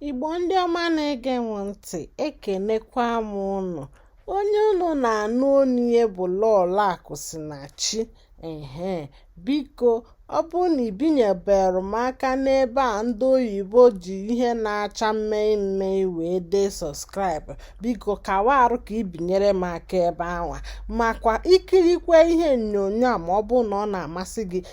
Igbo ndị ọma na-ege m ntị ekenekwa m unu onye unu na-anụ onu ya bụ Lọlọ Akụsinachi ehe biko ọ bụrụ na i binyeberọ m aka n'ebe a ndị oyibo ji ihe na-acha mmee mmee wee dee sọskraịbụ biko kawa arụ ka i binyere m aka ebe anwa makwa ikirikwe ihe onyonyo a ma ọ bụrụ na ọ na-amasị gị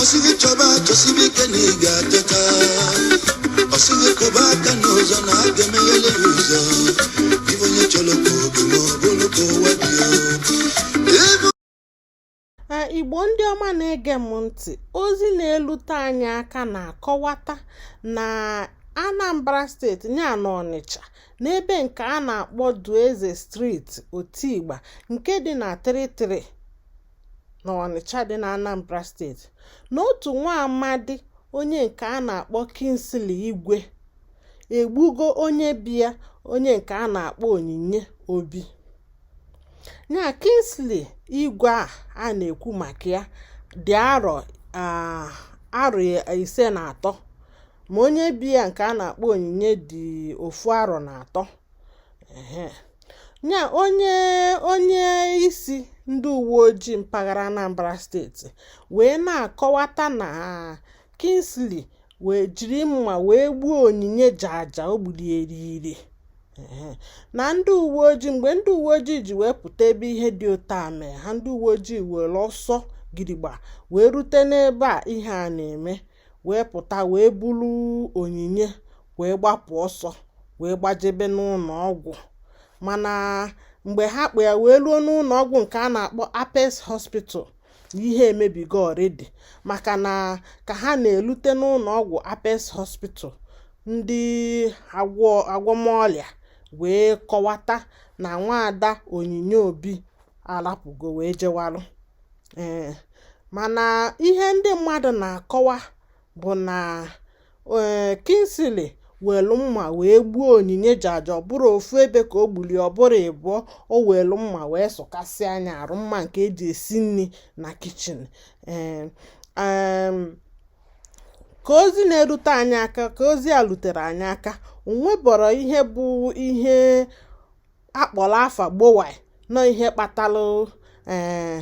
ọ sị gị chọba chọsibe ike na ị ga-achọta ọ sị gị kụba aka n'ụzọ na a ga-emeghele ya ụzọ ibe onye chọrọ ka oge ma ọ bụrụ ka ụwa dị ya ebe a igbo ndị ọma na-ege m ntị ozi na-elute anyị aka na-akọwata na anambra steeti ya na ọnịcha n'ebe nke a na-akpọ dueze street otigba nke dị na 33 na Ọnịcha dị n'Anambra steeti na otu nwa amadi onye nke a na-akpọ Kingsley Igwe egbugo onye be ya onye nke a na-akpọ Onyinye Obi ya Kingsley Igwe a a na-ekwu maka ya dị arọ arọ ise na atọ ma onye be ya nke a na-akpọ Onyinye dị ofu arọ na atọ ya onye isi ndị uwe ojii mpaghara Anambra steeti wee na-akọwata na Kingsley wee jiri mma wee gbuo Onyinye jaja o gburu eriri na ndị uwe ojii mgbe ndị uwe ojii ji wee pụta ebe ihe dị otu a mee ha ndị uwe ojii were ọsọ gidigba wee rute n'ebe a ihe a na-eme wee pụta wee buru Onyinye wee gbapụ ọsọ wee gbajebe n'ụlọ ọgwụ mana mgbe ha kpụ ya wee ruo n'ụlọ ọgwụ nke a na-akpọ Apex Hospital ihe emebigo already maka na ka ha na-elute n'ụlọ ọgwụ Apex Hospital ndị agwọmọrịa wee kọwata na nwaada Onyinye Obi arapụgo wee jewalụ ee mana ihe ndị mmadụ na-akọwa bụ na ee Kingsley welu mma wee gbuo Onyinye jaja ọ bụrọ ofu ebe ka o gbuli ọ bụrọ ịbụọ o welu mma wee sụkasịa nya arụ mma nke e ji esi nri na kichin ee ka ozi na-erute anyị aka ka ozi a rutere anyị aka o nwebọrọ ihe bụ ihe a kpọrọ afa gbowa nọ ihe kpatalụ eh,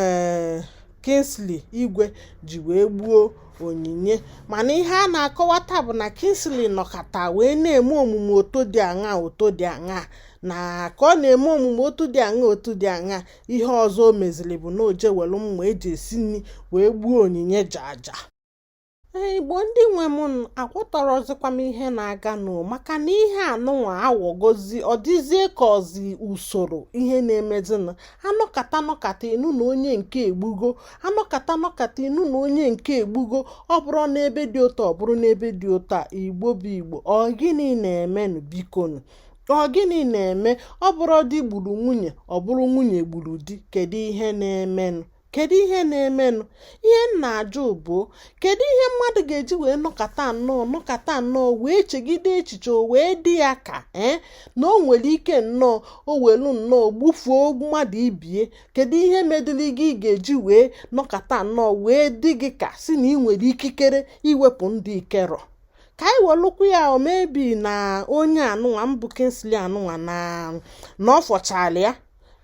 eh, Kingsley Igwe ji wee gbuo Onyinye mana ihe a na-akọwata bụ na Kingsley nọkata wee na-eme omume otu dị aṅa otu dị aṅa na ka ọ na-eme omume otu dị aṅa otu dị aṅa ihe ọzọ o meziri bụ na o je welu mma e ji esi nri wee gbuo Onyinye jaja igbo ndị nwe m aghọtarọzikwa m ihe na-aga nụ maka na ihe anụnwa awọgozi ọ dịzie ka ọzi usoro ihe na-emezinụ a nọkata nọkata ị nụ na onye nke egbugo a nọkata nọkata ị nụ na onye nke egbugo ọ bụrụ n'ebe dị otu a ọ bụrụ n'ebe dị otu a igbo bụ igbo ọ gịnị na-emenụ bikonu ọ gịnị na-eme ọ bụrọ di gburu nwunye ọ bụrụ nwunye gburu di kedu ihe na-emenụ kedu ihe na-emenụ ihe m na-ajụ bụ kedu ihe mmadụ ga-eji wee nọkata nnọọ nọkata nnọọ wee chegide echiche o wee dị ya ka ee eh, na o nwere ike nnọọ o welu nnọọ gbufuo mmadụ ibie kedu ihe medịrị gị ị ga-eji wee nọkata nnọọ wee dị gị ka si na ị nwere ikikere iwepụ ndụ ị kerọ ka anyị welụkwa ya maybe na onye anụnwa bụ Kingsley anụnwa na na ọ fọchala ya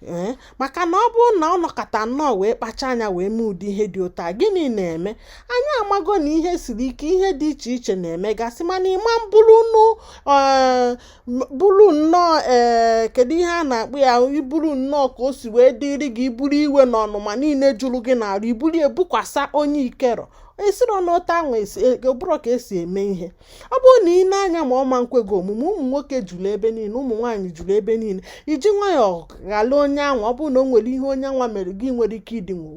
ee maka na ọ bụrụ na ọ nọkata nnọọ wee kpacha anya wee mee ụdị ihe dị otu a gịnị na-eme anyị amago na ihe siri ike ihe dị iche iche na-emegasị mana ị ma buru buru nnọọ ee kedu ihe a na-akpọ ya i buru nnọọ ka o si wee dịrị gị i buru iwe na ọnụma niile jụrụ gị n'arụ i buru ebukwasa onye i kero esiro n'otu ahụ abụrọ ka e si eme ihe ọ bụrụ na i nee anya na ọ ma nkwe gị omume ụmụ nwoke juru ebe niile ụmụ nwaanyị juru ebe niile i ji nwayọọ ghara onye anwa ọ bụrụ na o nwere ihe onye anwa mere gị nwerọ ike idinwu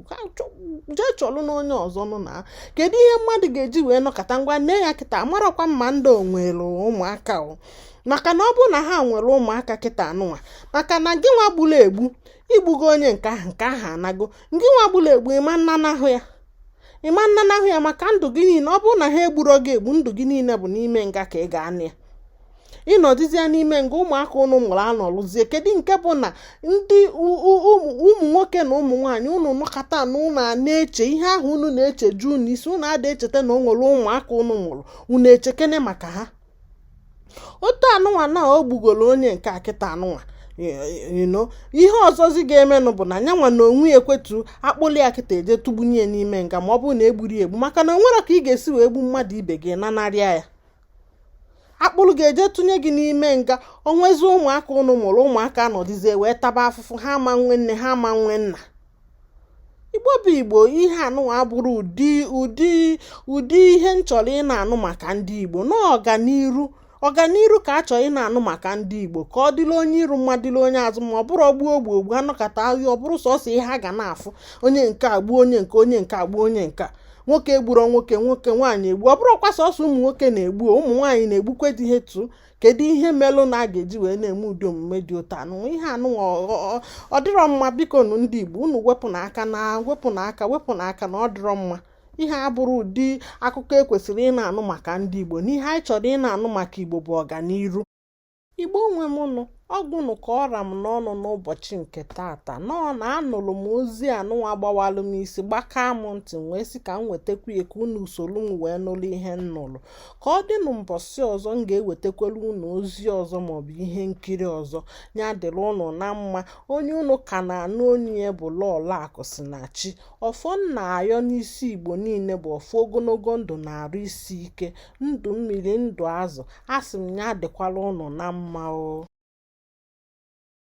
jee chọlụ na onye ọzọ nụ na kedu ihe mmadụ ga-eji wee nọkata ngwa nee ya kịta amarọkwa m ma ndị a o nwere ụmụaka o maka na ọ bụrụ na ha nwere ụmụaka kịta anụnwa maka na gị nwa gburu egbu i gbugo onye nke ahụ nke ahụ anago ngị nwa gburu egbu ị ma nnanahụ ya ị ma nnanahụ ya maka ndụ gị niile ọ bụrụ na ha egburo gị egbu ndụ gị niile bụ n'ime nga ka ị ga-anọ ya ị nọdụzie n'ime nga ụmụaka ụnụ mụrụ anọlụzie kedu nke bụ na ndị ụmụ nwoke na ụmụ nwaanyị ụnụ nọkata na ụnụ a na-eche ihe ahụ ụnụ na-eche ju n'isi ụnụ ada echeta na o nwere ụmụaka ụnụ mụrụ ụnụ echekene maka ha otu anụnwa na o gbugoro onye nke a kịta anụnwa ihe ọzọzi ga-emenụ bụ na nyanwa na onwe ya ekwetu akpụlụ ya kịta eje tụgbunye ya n'ime nga ma ọ bụrụ na egburo ya egbu maka na o nwerọ ka ị ga-esi wee gbu mmadụ ibe gị nanarị ya akpụrụ gị eje tụnye gị n'ime nga o nwezi ụmụaka ụnụ mụrụ ụmụaka nọdụzie wee taba afụfụ ha ama nwe nne ha ama nwe nna igbo bụ igbo ihe anụwa abụrọ ụdị ụdị ụdị ihe m chọrọ ịna-anụ maka ndị igbo no ọganiru ọganiru ka a chọrọ ịna-anụ maka ndị igbo ka ọ dịla onye iru mma dịla onye azụ mma ọ bụrọ ogbuo ogbu ogbu a nọkata ahịa ọ bụrụ sọsọ ihe ha ga na-afụ onye nke a gbuo onye nke onye nke a gbuo onye nke a nwoke egburo nwoke nwoke nwaanyị egbu ọ bụrọkwa sọsọ ụmụ nwoke na-egbu ụmụ nwaanyị na-egbukwa di ha too kedu ihe melụ na a ga-eji wee na-eme ụdị omume dị otu anụ ihe anụnwa ọ dịrọ mma biko nụ ndị Igbo unu wepụ nụ aka wepụ nụ aka na ọ dịrọ mma ihe a abụrọ ụdị akụkọ e kwesịrị ịna-anụ maka ndị Igbo na ihe anyị chọrọ ịna-anụ maka Igbo bụ ọganiru Igbo nwe m nụ ọ gwụnụ ka ọ ra m n'ọnụ n'ụbọchị nke tata nọọ na anụlụ m ozi anụnwa gbawalụ m isi gbakaa m ntị wee sị ka m wetakwuo ya ka unu solu m wee nụlụ ihe m nụlụ ka ọ dịnụ mbọsị ọzọ m ga-ewetakwara unu ozi ọzọ maọbụ ihe nkiri ọzọ ya dịrị unu na mma onye unu ka na-anụ onu ya bụ Lọọlọ Akụsinachi ọfọ m na-ayọ n'isi Igbo niile bụ ọfọ ogonogo ndụ na arụ isi ike ndụ mmiri ndụ azụ asị m ya dịkwara unu na mma o